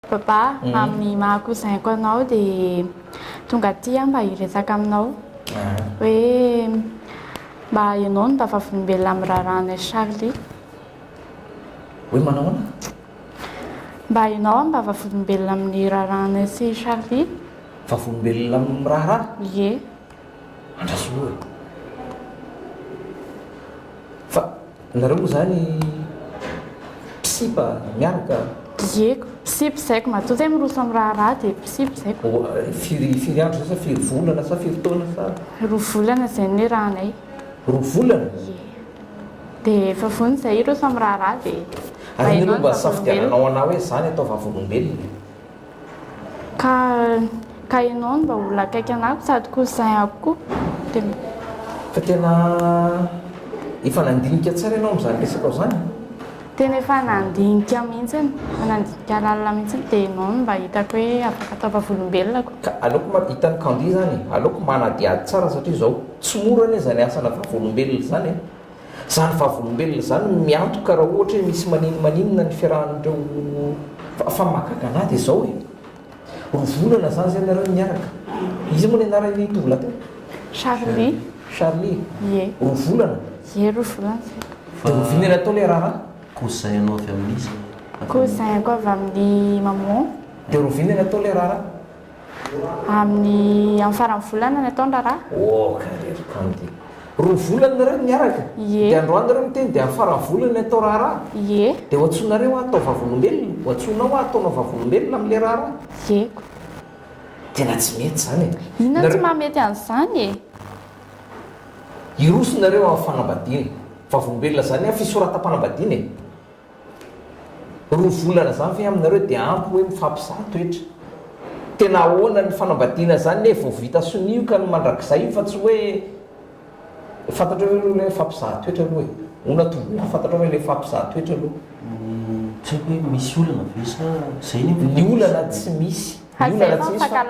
Papa, amin'ny maha cousin-ko anao dia tonga aty aho mba hiresaka aminao hoe mba ianao no mba vavolombelona amin'ny raharahanay Charly. Hoe manao ahoana? Mba ianao aho mba vavolombelona amin'ny raharahanay sy Charly. Vavolombelona amin'ny raharaha? Ie. Andraso aloha e. Fa Nareo moa zany mpisipa miaraka a? Dieko, mpisipa zaiko matoa zay miroso am raharaha de mpisipa zaiko. Firy firy andro zay sa firy volana sa firy taona sa? Roa volana zay ny rahanay. Roa volana? Ie. De efa vonona zay hiroso am raharaha de. Ary anie aloha mba asafidiananao anah hoe zany atao vavolombelona e. Ka ka enao no mba olona akaiky anah sady cousin ako koa de mba. Fa tena efa nandinika tsara ianao amin'izany resakao izany e. Tena efa nandinika mihitsiny, efa nandinika lalina mihitsiny dia enao no mba hitako hoe afaka atao vavolombelona ko. Ka aleoko ma, hitan'i Kandy izany e, aleoko manadihady tsara satria izao tsy mora anie izany asana vavolombelona izany e. Izany vavolombelona izany no miantoka raha ohatra hoe misy maninmaninona ny fiarahan'ireo fa fa mahagaga anahy dia izao e! roa volana izany izay nareo no niaraka iza moa ny anaran'ilay tovolahy teo? Charly Charly? Ie roa volana? Ie roa volana izay Dia oviana ilay atao ilay raharaha? Cousin anao avy amin'iza? Cousin ko avy amin'ny maman. Dia oviana ilay atao ilay raharaha? Amin'ny amin'ny faran'ny volana no atao ny raharaha? Ôka ry ry Kandy. Roa volana nareo no miaraka? Ie. Dia androany nareo miteny dia amin'ny faran'ny volana no atao raharaha? Ie. Dia ho antsoinareo aho atao vavolombelona? Ho antsoinao aho ataonao vavolombelona amin'ilay raharaha? Ieko. Tena tsy mety izany e! Inona no tsy mahamety an'izany e? Hiroso nareo amin'ny fanambadiana. Vavolombelona izany an, fisoratam-panambadiana e! Roa volana zany ve aminareo de ampy hoe mifampizaha toetra? Tena ahoana ny fanambadiana zany ne vao vita sonia io ka ny mandrakizay io fa tsy hoe fantatrao ve aloha le mifampizaha toetra aloha e? Hono tovolahy fantatrao ve le mifampizaha toetra aloha? Tsy haiko hoe misy olana ve sa zay ny olana? Ny olana tsy misy, ny olana tsy misy fa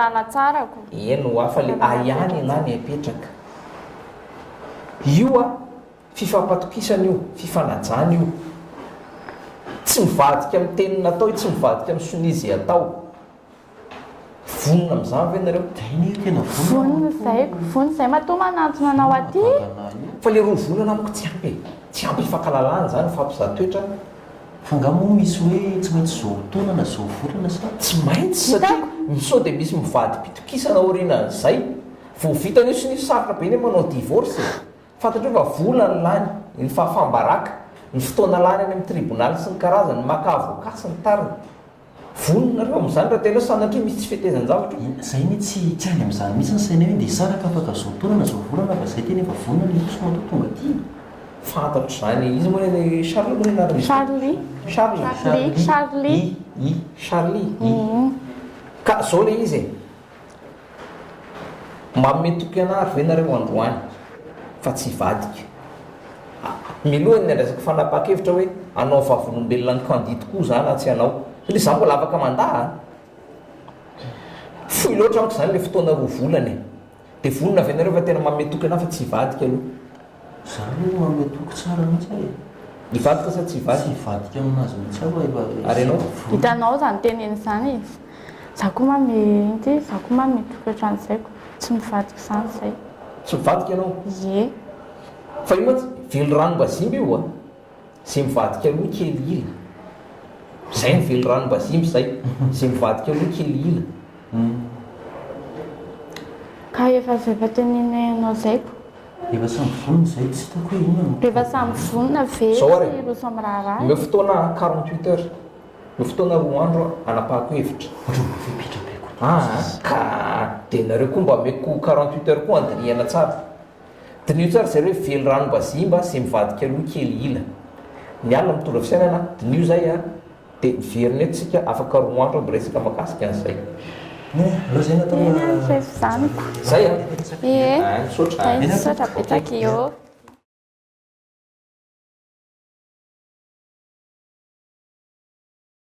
eny oa fa le ahiany enah ny ahipetraka io a! Fifampatokisana io, fifanajana io. Tsy mivadika amin'ny teny natao io, tsy mivadika amin'ny sonia izay atao. Vonona amin'izany ve nareo? Vonona izahay, vonona izahay matoa manantona anao aty. Fa ilay roa volana amiko tsy ampy e, tsy ampy hifankalalana izany, hifampizaha toetra an. Fa nga moa misy hoe tsy maintsy izao taona na izao volana sa? Tsy maintsy satria sao dia misy mivadi-pitokisana aorianan'izay. Vao vita an'io sonia sarotra be ny hoe manao divorce e. Fantatreo fa vola ny lany, ny fahafam-baraka, ny fotoana lany any amin'ny tribonaly sy ny karazany maka avocat sy ny tariny. Vonona nareo amin'izany raha tianareo sanatria misy tsy fetezan-javatra eo. Zay anie tsy tsy any amin'izany mihitsy ny sainay hoe ndeha hisaraka afaka izao taona na izao volana fa zay tena efa vonona ny hiroso matoa tonga aty e. Fantatro izany, iza moa le Charles moa le anaran'izy ity? Charly. Charles. Charly. Charly. I. I. Charly. I. Ka zao le izy e. Manome toky anah ve nareo androany fa tsy hivadika? Ah, miloha ny andraisako fanapahan-kevitra hoe hanao vavolombelona an'i Kandy tokoa za na tsy hanao, satria za mbola afaka mandà a! Fohy loatra amiko zany le fotoana roa volana e! De vonona ve nareo fa tena manome toky anah fa tsy hivadika aloha? Zany hoe manome toky tsara mihitsy aho e! Hivadika sa tsy hivadika? Tsy hivadika amin'azy mihitsy aho rahefa vola. Ary ianao? Hitanao izany teniny izany e! Za koa ma mi, inty, za koa ma mitoky ohatran'izay ko! Tsy mivadika izany izay. Tsy mivadika ianao? Ie. Fa io mantsy, velirano-bazimba io a! Zay mivadika aloha kely ila. Zay ny velirano mba zimby zay. Zay mivadika aloha kely ila. Ka efa zay efa teneninay anao zay ko. Efa samy vonona zay tsy hitako hoe inona no. Efa samy vonona ve Zao ary e. ireo samy raharaha e. Omeo fotoana aho quarante huit heures. Omeo fotoana roa andro aho hanapahako hevitra. Ohatran'ny voafepetra be koa ty. Aa ka de nareo koa mba omeko quarante huit heures koa handinihana tsara. Diniho tsara ry zareo hoe velirano mba zimba sy mivadika loha kely ila. Ny alina mitondra fisainana, diniho zay a! Dia miverina eto tsika afaka roa andro aho miresaka mahakasika an'izay. Eny ary tsy efa zaniko. Zay a! Ie, zay misaotra betsaka ioo.